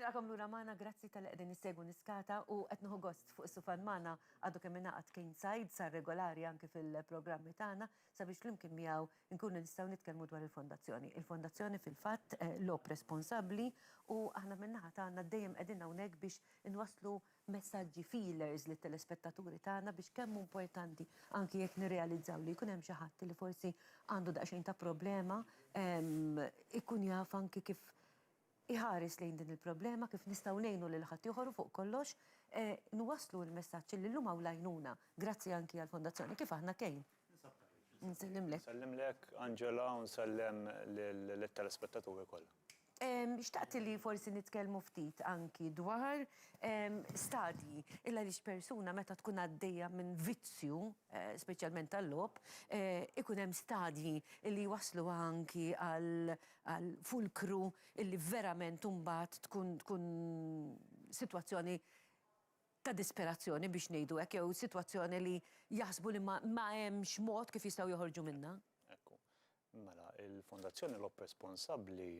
Nilqakom lura magħna, grazzi talli qegħdin issegwu Niskata u qed nieħu gost fuq is-sufan magħna għadu kemm ingħaqad Kane Said, sar regolari anki fil-programmi tagħna sabiex flimkien miegħu nkunu nistgħu nitkellmu dwar il-Fondazzjoni. Il-Fondazzjoni fil-fatt logħob responsabbli u aħna min-naħa tagħna dejjem qegħdin hawnhekk biex inwasslu messaġġi, feelers lit-telespettaturi tagħna biex kemm hu importanti anki jekk nirrealizzaw li jkun hemm xi ħadd li forsi għandu daqsxejn ta' problema ikun jaf anki kif iħares lejn din il-problema, kif nistgħu ngħinu lil ħaddieħor u fuq kollox nwasslu l-messaġġ illi llum hawn l-għajnuna, grazzi anki għall-Fondazzjoni Kif Aħna Kejn. Nsellimlek. Nsellimlek, Angela, u nsellem lit-telespettaturi kollha. Xtaqt illi forsi nitkellmu ftit anki dwar stadji, illi għaliex persuna meta tkun għaddejja minn vizzju, speċjalment tal-logħob, ikun hemm stadji illi jwassluha anki għal għal fulkru illi verament imbagħad tkun tkun sitwazzjoni ta' disperazzjoni biex ngħidu hekk jew sitwazzjoni li jaħsbu li ma ma hemmx mod kif jistgħu joħorġu minnha. Ekku. Mela, il-Fondazzjoni Logħob Responsabbli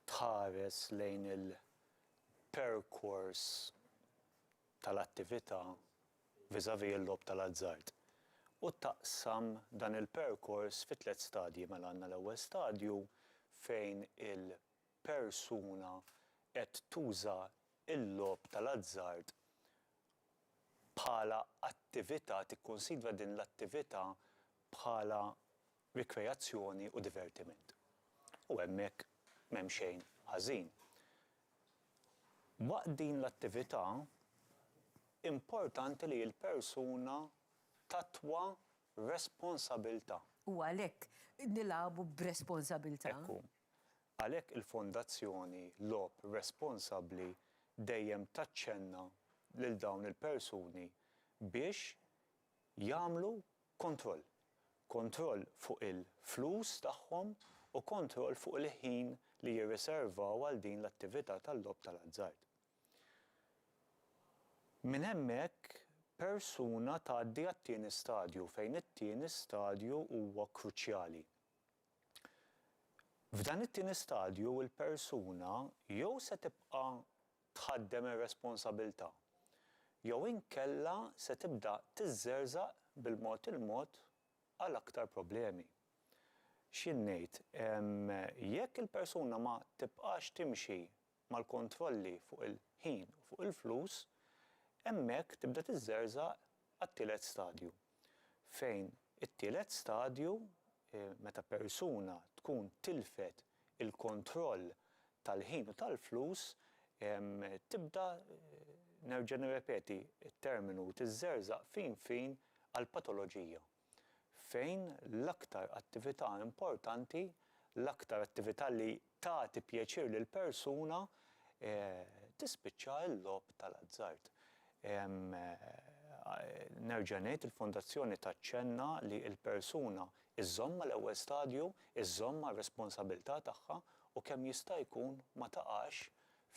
tħares lejn il-perkors tal-attività vis-à-vis l-logħob tal-azzard u taqsam dan il-perkors fi tliet stadji. Mela għandna l-ewwel stadju fejn il-persuna qed tuża l-logħob tal-azzard bħala attività, tikkunsidra din l-attività bħala rikreazzjoni u divertiment. U hemmhekk m'hemm xejn ħażin. Waqt din l-attività importanti li l-persuna tattwa responsabilità. U għalhekk nilagħbu b'responsabilità. Hekk hu. Għalhekk il-Fondazzjoni Logħob Responsabbli dejjem taċċenna lil dawn il-persuni biex jagħmlu kontroll. Kontroll fuq il-flus tagħhom u kontroll fuq il-ħin li jirriservaw għal din l-attività tal-logħob tal-azzard. Minn hemmhekk persuna tgħaddi għat-tieni stadju fejn it-tieni stadju huwa kruċjali. F'dan it-tieni stadju l-persuna jew se tibqa' tħaddem ir-responsabilità, jew inkella se tibda tiżżerżaq bil-mod il-mod għal aktar problemi. X'jien ngħid, jekk il-persuna ma tibqax timxi mal-kontrolli fuq il-ħin u fuq il-flus, hemmhekk tibda tiżżerżaq għat-tielet stadju, fejn it-tielet stadju, meta persuna tkun tilfet il-kontroll tal-ħin u tal-flus, tibda, nerġa' nirrepeti t-terminu, tiżżerżaq fin fin għall-patoloġija. fejn l-aktar attività importanti, l-aktar attività li tagħti pjaċir lill-persuna, tispiċċa l-logħob tal-azzard. Nerġa' ngħid, il-Fondazzjoni taċċenna li l-persuna żżomm mal-ewwel stadju, żżomm mar-responsabilità tagħha u kemm jista' jkun ma taqax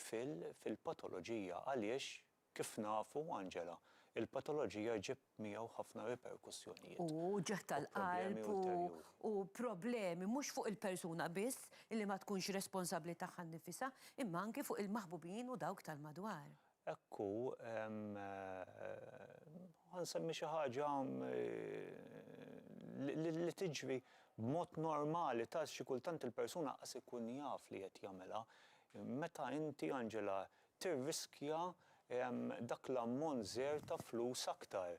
fil-patoloġija għaliex Kif nafu, Angela, il-patoloġija ġieb miegħu ħafna riperkussjonijiet U ġieħ tal-qalb u u problemi mhux fuq il-persuna biss li ma tkunx responsabbli tagħha nnifisha, imma anki fuq il-maħbubin u dawk tal-madwar. Hekk hu, ħa nsemmi xi ħaġa li tiġri b'mod normali, ta' xi kultant il-persuna qas ikun jaf li qed jagħmilha. Meta inti, Angela, tirriskja dak l-ammont żgħir ta' flus aktar,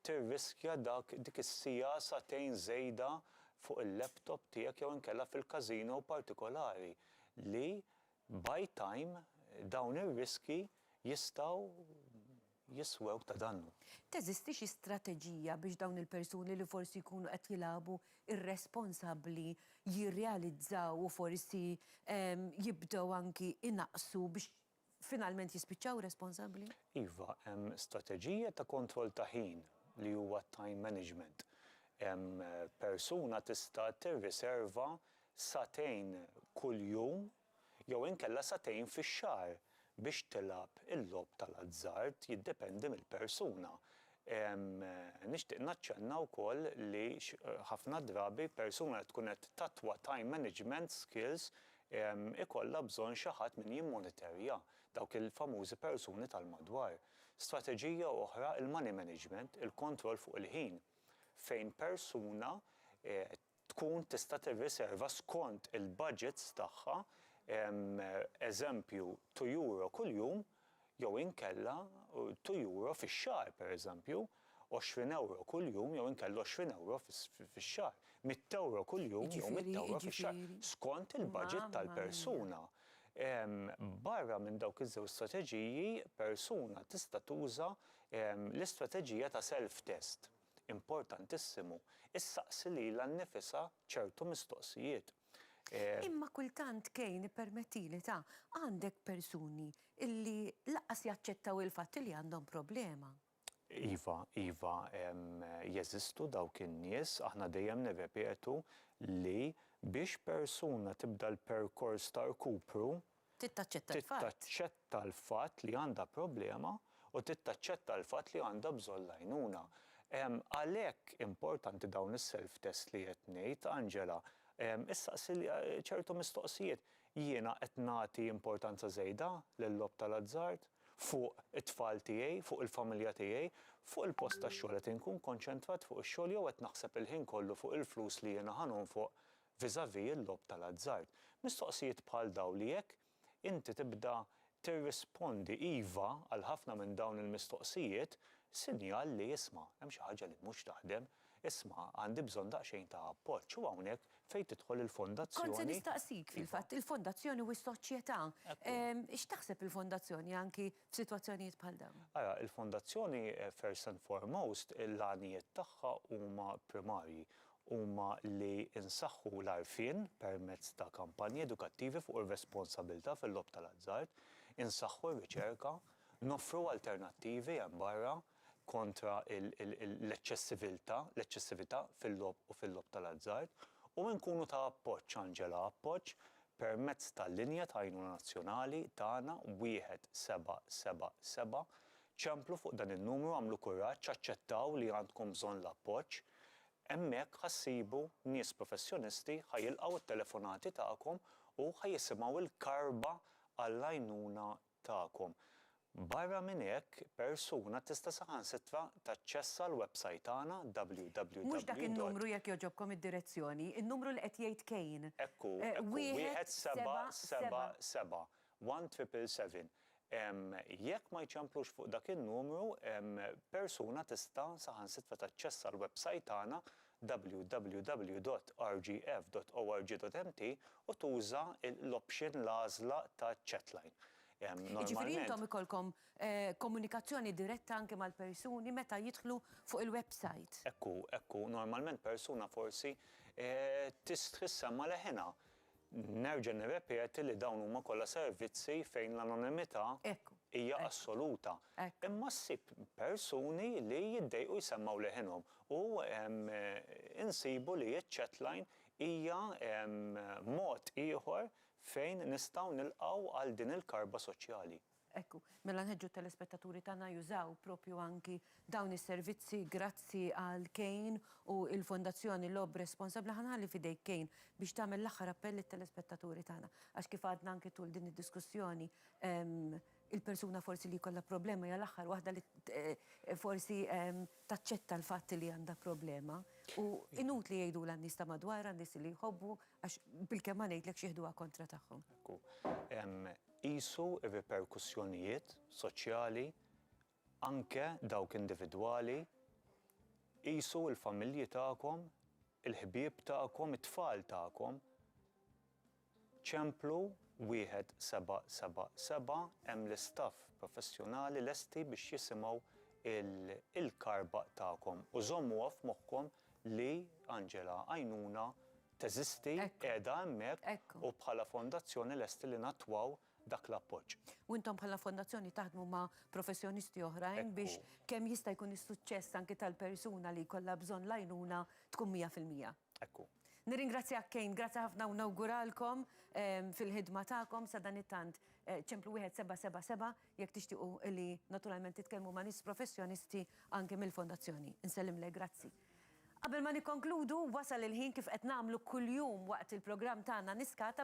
tirriskja dak dik is-siegħa sagħtejn żejda fuq il-laptop tiegħek jew inkella fil-casino partikolari li by time dawn ir-riskji jistgħu jiswew ta' dannu. Teżisti xi strateġija biex dawn il-persuni li forsi jkunu qed jilagħbu r-responsabbli jirrealizzaw u forsi jibdew anki inaqqsu biex finalment jispiċċaw responsabbli? Iva, hemm strateġija ta' kontroll ta' ħin li huwa t-time management. Persuna tista' tirriserva sagħtejn kuljum jew inkella sagħtejn fix-xahar biex tilgħab il-logħob tal-azzard, jiddependi mill-persuna. Nixtieq naċċenna wkoll li ħafna drabi persuna li tkun qed tattwa time management skills ikollha bżonn xi ħadd min jimmoniterja dawk il-famużi persuni tal-madwar. Strateġija oħra il-money management, il-kontroll fuq il-ħin, fejn persuna tkun tista' tirriserva skont il-baġits tagħha eżempju two euro kuljum jew inkella two euro fix-xahar pereżempju, għoxrin ewro kuljum jew inkella għoxrin ewro fix-xahar, mitt ewro kuljum jew mitt ewro fix-xahar, skont il-baġit tal-persuna. Barra minn dawk iż-żewġ strateġiji, persuna tista' tuża l-istrateġija ta' self-test. importantissimu, issaqsi lilha nnifisha ċertu mistoqsijiet. Imma kultant Kane ippermettili ta' għandek persuni li lanqas jaċċettaw il-fatt li għandhom problema. Iva, iva, jeżistu dawk in-nies. Aħna dejjem nirrepetu li biex persuna tibda l-perkors ta' rkupru, Trid taċċetta l-fatt. Trid taċċetta l-fatt li għandha problema u trid taċċetta l-fatt li għandha bżonn l-għajnuna. Għalhekk importanti dawn is-self test li qed ngħid, Angela. Issaqsi ċertu mistoqsijiet. Jiena qed nagħti importanza żejda lil-logħob tal-azzard? Fuq it-tfal tiegħi? Fuq il-familja tiegħi? Fuq il-post tax-xogħol qed inkun konċentrat fuq ix-xogħol jew qed naħseb il-ħin kollu fuq il-flus li jiena ħa nonfoq vis-à-vis il-logħob tal-azzard. Mistoqsijiet bħal dawn li jekk inti tibda tirrispondi iva għal ħafna minn dawn il-mistoqsijiet, sinjal li isma', hemm xi ħaġa li mhux taħdem, isma' għandi bżonn daqsxejn ta' appoġġ u hawnhekk fejn tidħol il-fondazzjoni. Kont se nistaqsik, fil-fatt, il-fondazzjoni u s-soċjetà. X'taħseb il-fondazzjoni anki f'sitwazzjonijiet bħal dawn? Ara, il-fondazzjoni first and foremost l-għanijiet tagħha huma primarji huma li nsaħħu l-għarfien permezz ta' kampanji edukattivi fuq ir-responsabilità fil-logħob tal-azzard, insaħħu r-riċerka, noffru alternattivi hemm barra kontra l-eċċessiviltà, l-eċċessività fil-logħob u fil-logħob tal-azzard, u nkunu ta' appoġġ, Angela, appoġġ permezz tal-linja ta' għajnuna nazzjonali tagħna 1777 Ċemplu fuq dan in-numru għamlu kuraġġ aċċettaw li għandkom bżonn l-appoġġ. Hemmhekk ħa ssibu nies professjonisti ħa jilqgħu t-telefonati tagħkom u ħa jisimgħu l-karba għall-għajnuna tagħkom. Barra minn hekk persuna tista' saħansitra taċċessa l-websajt tagħna Mhux dak in-numru jekk www. jogħġobkom id-direzzjoni, in-numru li qed jgħid Kane. Hekk hu, hekk hu, wieħed seba' seba' seba'. One triple seven Jekk ma jċamplux fuq dak in-numru, persuna tista' saħansitra taċċessa l-websajt tagħna www.rgf.org.mt u tuża l-option, l-għażla, ta' chatline. Jiġifieri intom ikollkom komunikazzjoni diretta anke mal-persuni meta jidħlu fuq il-websajt? Hekk hu, hekk hu. Normalment persuna forsi tistħi ssemma' leħinha. Nerġa' nirrepeti li dawn huma kollha servizzi fejn l-anonimità hija assoluta. Imma ssib persuni li jiddejqu jsemmgħu leħinhom u insibu li ċ-chatline hija mod ieħor fejn nistgħu nilqgħu għal din il-karba soċjali. Ekku, mela nħeġġu t-telespettaturi tagħna jużaw proprju anki dawn is-servizzi grazzi għal Kane u l-Fondazzjoni Logħob Responsabbli. Ħa nħalli f'idejk Kane biex tagħmel l-aħħar appell lit-telespettaturi tagħna. Għax kif għadna anki tul din id-diskussjoni, il-persuna forsi li jkollha problema hija l-aħħar waħda li forsi taċċetta l-fatt li għandha problema u inutli jgħidulha n-nies ta' madwarha, n-nies li jħobbu għax bilkemm ma ngħidlekx jieħduha kontra tagħhom. Ekku, Qisu r-riperkussjonijiet soċjali, anke dawk individwali. Qisu l-familji tagħkom, il-ħbieb tagħkom, it-tfal tagħkom. Ċemplu 1777 hemm l-istaff professjonali lesti biex jisimgħu l-karbaq tagħkom u żommuha f'moħħkom li Angela Għajnuna teżisti, qiegħda hemmhekk u bħala fondazzjoni lesti li nattwaw dak l-appoġġ. U intom bħala fondazzjoni taħdmu ma' professjonisti oħrajn biex kemm jista' jkun is-suċċess anki tal-persuna li jkollha bżonn l-għajnuna tkun mija fil-mija. Hekk hu. Nirringrazzjak Kane, grazzi ħafna u nawguralkom fil-ħidma tagħkom sadanittant ċemplu 1777 jekk tixtiequ li naturalment titkellmu ma' nies professjonisti anki mill-fondazzjoni. Insellimlek, grazzi. Qabel ma nikkonkludu, wasal il-ħin kif qed nagħmlu kuljum waqt il-programm tagħna Niskata